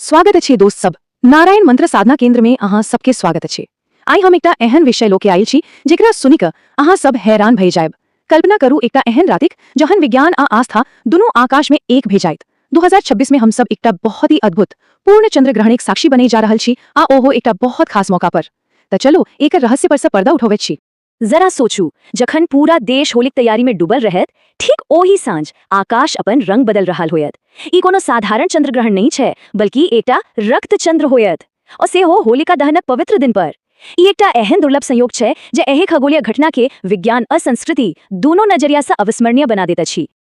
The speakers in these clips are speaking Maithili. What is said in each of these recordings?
स्वागत अछि दोस्त सब नारायण मंत्र साधना केंद्र में अहा सबके स्वागत अछि आई हम एकटा एहन विषय लोके आयल छी जेकरा सुनि क अहा सब हैरान भय जायब कल्पना करू एकटा एहन रातिक जहन विज्ञान आ आस्था दुनू आकाश में एक भय जायत 2026 में हम सब एकटा बहुत ही अद्भुत पूर्ण चंद्र ग्रहण एक साक्षी बने जा रहल छी आ ओहो एकटा बहुत खास मौका पर त चलू एक रहस्य पर से पर्दा उठौबैत छी जरा सोचू जखन पूरा देश होलिक तैयारी में डूबल रहत ठीक ओही साँझ आकाश अपन रंग बदल रहा होयत ई कोनो साधारण चंद्रग्रहण नहीं छे बल्कि एटा रक्त चंद्र होयत और से हो होलिका दहनक पवित्र दिन पर ई एकटा एहन दुर्लभ संयोग छे जे एहे खगोलीय घटना के विज्ञान और संस्कृति दोनों नजरिया से अविस्मरणीय बना देत अछि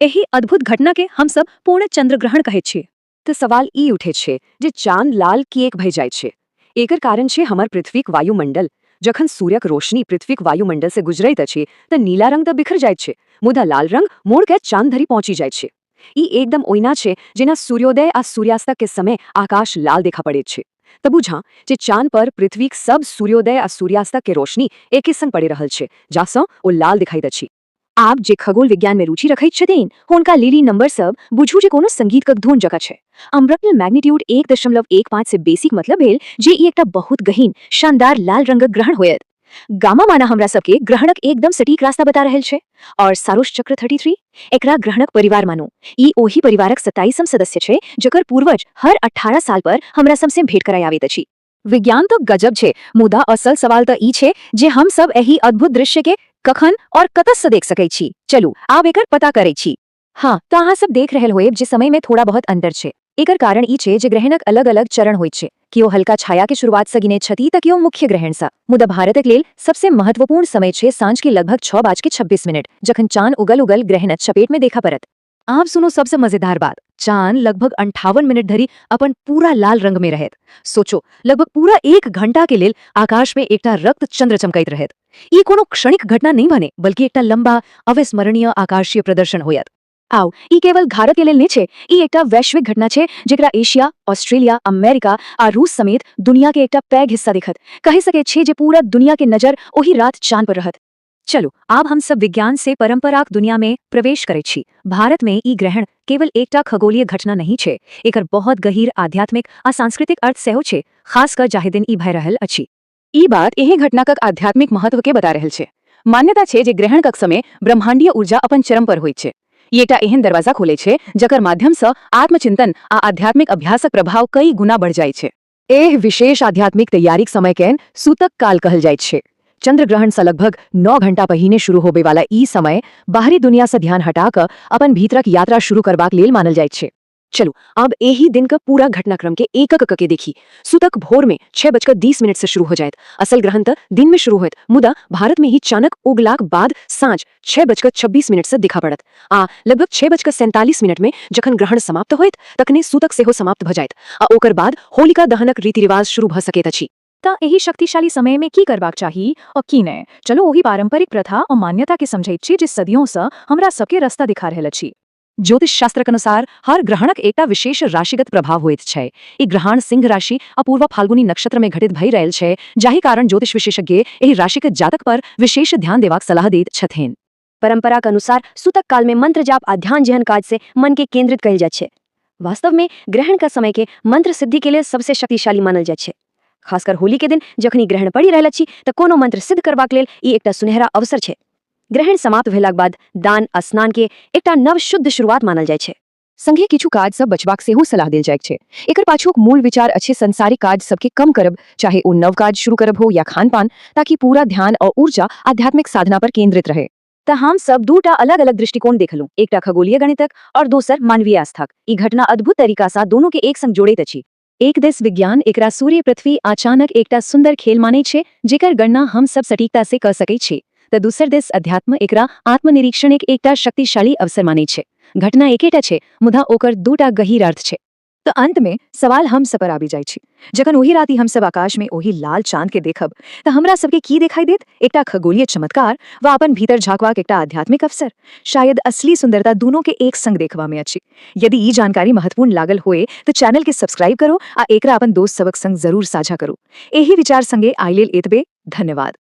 एहि अद्भुत घटना केँ हम सब पूर्ण चन्द्रग्रहण कहैत छी। त सवाल ई उठैत छै जे चान लाल किएक भए जाइत छै? एकर कारण छै हमर पृथ्वीक वायुमण्डल। जखन सूर्यक रोशनी पृथ्वीक वायुमण्डल सँ गुजरैत अछि त नीला रंग त बिखर जाइत छै मुदा लाल रंग मोड़ कए चान धरि पहुँचि जाइत छै। ई एकदम ओहिना छै जेना सूर्योदय आ सूर्यास्तक के समय आकाश लाल देखा पड़ैत छै। त बुझाँ जे चान पर पृथ्वीक सब सूर्योदय आ सूर्यास्तक के रोशनी एके संग पड़ि रहल छै जाह सँ ओ लाल देखाइत अछि। आब जे खगोल विज्ञान में रुचि रखैत छथिन हुनका लीली नंबर सब बुझू जे कोनो संगीत कक धुन जका छै अम्ब्रकल मैग्नीट्यूड एक दशमलव एक पाँच से बेसीक मतलब भेल जे ई एकटा बहुत गहीन शानदार लाल रंगक ग्रहण होयत गामा माना हमरा सबके ग्रहणक एकदम सटीक रास्ता बता रहल छै और सारोश चक्र थर्टी थ्री एकरा ग्रहणक परिवार मानू ई ओही परिवारक सत्ताईसम सदस्य छै जकर पूर्वज हर अठारह साल पर हमरा सबसे भेंट कराय आबैत अछि विज्ञान तो गजब छे मुदा असल सवाल तो ई छे जे हम सब एही अद्भुत दृश्य के कखन और कतस से देख सके छी चलू आब एकर पता करे छी हाँ तो अहाँ सब देख रहल होएब जे समय में थोड़ा बहुत अंतर छे एकर कारण ई छे जे ग्रहणक अलग अलग चरण होइत छे कियो हल्का छाया के शुरुआत से गिने छथि तऽ कियो मुख्य ग्रहण सा मुदा भारतक लेल सबसे महत्वपूर्ण समय छे साँझ के लगभग छः बाज के छब्बीस मिनट जखन चांद उगल उगल ग्रहण चपेट में देखा परत आब सुनो सबसे मजेदार बात चांद लगभग अंठावन मिनट धरी अपन पूरा लाल रंग में रहत सोचो लगभग पूरा एक घंटा के लेल आकाश में एकटा रक्त चंद्र चमकैत रहत ई कोनो क्षणिक घटना नहीं बने बल्कि एकटा लंबा अविस्मरणीय आकाशीय प्रदर्शन होयत आओ ई केवल भारत के लेल नहीं छे ई एकटा वैश्विक घटना छे जेकरा एशिया ऑस्ट्रेलिया अमेरिका आ रूस समेत दुनिया के एकटा पैघ हिस्सा दिखत कह सके छे जे पूरा दुनिया के नजर ओही रात चांद पर रहत चलो आब हम सब विज्ञान से परंपराक दुनिया में प्रवेश करे छी भारत में ई ग्रहण केवल एकटा खगोलीय घटना नहीं छे एकर बहुत गहिर आध्यात्मिक आ सांस्कृतिक अर्थ सेहो छे खास कर जाहि दिन ई भय रहल अछि ई बात एहे घटनाक आध्यात्मिक महत्व के बता रहल छे मान्यता छे जे ग्रहण कक समय ब्रह्मांडीय ऊर्जा अपन चरम पर होइत छे ई एकटा एहन दरवाजा खोले छे जकर माध्यम से आत्मचिंतन आ आध्यात्मिक अभ्यासक प्रभाव कई गुना बढ़ जाय छे एह विशेष आध्यात्मिक तैयारीक समय कैन सूतक काल कहल जाइत छै चंद्रग्रहण से लगभग नौ घंटा पहिने शुरू होबे वाला ई समय बाहरी दुनिया से ध्यान हटा कऽ अपन भीतरक यात्रा शुरू करबाक लेल मानल जाइत छै चलू आब एहि दिनक पूरा घटनाक्रम के एकक कके देखी सुतक भोर में छह बजकर दीस मिनट से शुरू हो जायत असल ग्रहण तऽ दिन में शुरू होयत मुदा भारत में ही चानक उगलाक बाद साँझ छह बजकर छब्बीस मिनट से दिखा पड़त आ लगभग छह बजकर सैंतालीस मिनट में जखन ग्रहण समाप्त होयत तखने सूतक सेहो समाप्त भ जायत आ ओकर बाद होलिका दहनक रीति-रिवाज शुरू भ सकैत अछि। तँ एहि शक्तिशाली समय मे की करबाक चाही आ की नै? चलू ओहि पारंपरिक प्रथा आ मान्यता केँ समझैत छी जे सदियों सँ हमरा सभ केँ रस्ता दिखा रहल अछि। ज्योतिष शास्त्रक अनुसार हर ग्रहणक एकटा विशेष राशिगत प्रभाव होइत छै ई ग्रहण सिंह राशि अपूर्व फाल्गुनी नक्षत्र में घटित भय रहल छै जाहि कारण ज्योतिष विशेषज्ञ एहि राशिक जातक पर विशेष ध्यान देवाक सलाह दैत छथिन परंपराक अनुसार सुतक काल में मंत्र जाप आ ध्यान जेहन काज से मन के केंद्रित कयल जाइत छै वास्तव में ग्रहण का समय के मंत्र सिद्धि के लेल सबसे शक्तिशाली मानल जाइत छै खासकर होली के दिन जखनी ग्रहण पड़ि रहल अछि तऽ कोनो मंत्र सिद्ध करबाक लेल ई एकटा सुनहरा अवसर छै ग्रहण समाप्त भेलाक बाद दान आ स्नान केँ एकटा नव शुद्ध शुरुआत मानल जाइत छै। संगे किछु काज सँ बचबाक सेहो सलाह देल जाइत छै। एकर पाछूक मूल विचार अछि संसारिक काज सभ केँ कम करब, चाहे ओ नव काज शुरू करब हो या खान-पान, ताकि पूरा ध्यान आ ऊर्जा आध्यात्मिक साधना पर केंद्रित रहय। त हम सभ दू टा अलग-अलग दृष्टिकोण देखलहुँ, एकटा खगोलीय गणितक और दोसर मानवीय आस्थाक। ई घटना अद्भुत तरीका सँ दुनू केँ एक संग जोड़ैत अछि। एक दिस विज्ञान एकरा सूर्य पृथ्वी अचानक एकटा सुंदर खेल माने छे जेकर गणना हम सब सटीकता से क सके छे त दूसर दिस अध्यात्म एकरा आत्मनिरीक्षण एक एकटा शक्तिशाली अवसर माने छे घटना एकेटा छे मुदा ओकर दूटा गहीर अर्थ छे त अंत में सवाल हम सब पर आबि जाय छी जखन ओही राति हम सब आकाश में ओही लाल चांद के देखब त हमरा सबके की देखाई देत एकटा खगोलीय चमत्कार व अपन भीतर झांकवाक एकटा आध्यात्मिक अवसर शायद असली सुंदरता दोनों के एक संग देखवा में अछि यदि ई जानकारी महत्वपूर्ण लागल होए तऽ चैनल के सब्सक्राइब करो आ एकरा अपन दोस्त सबक संग जरूर साझा करू एही विचार संगे आइ लेल एतबे धन्यवाद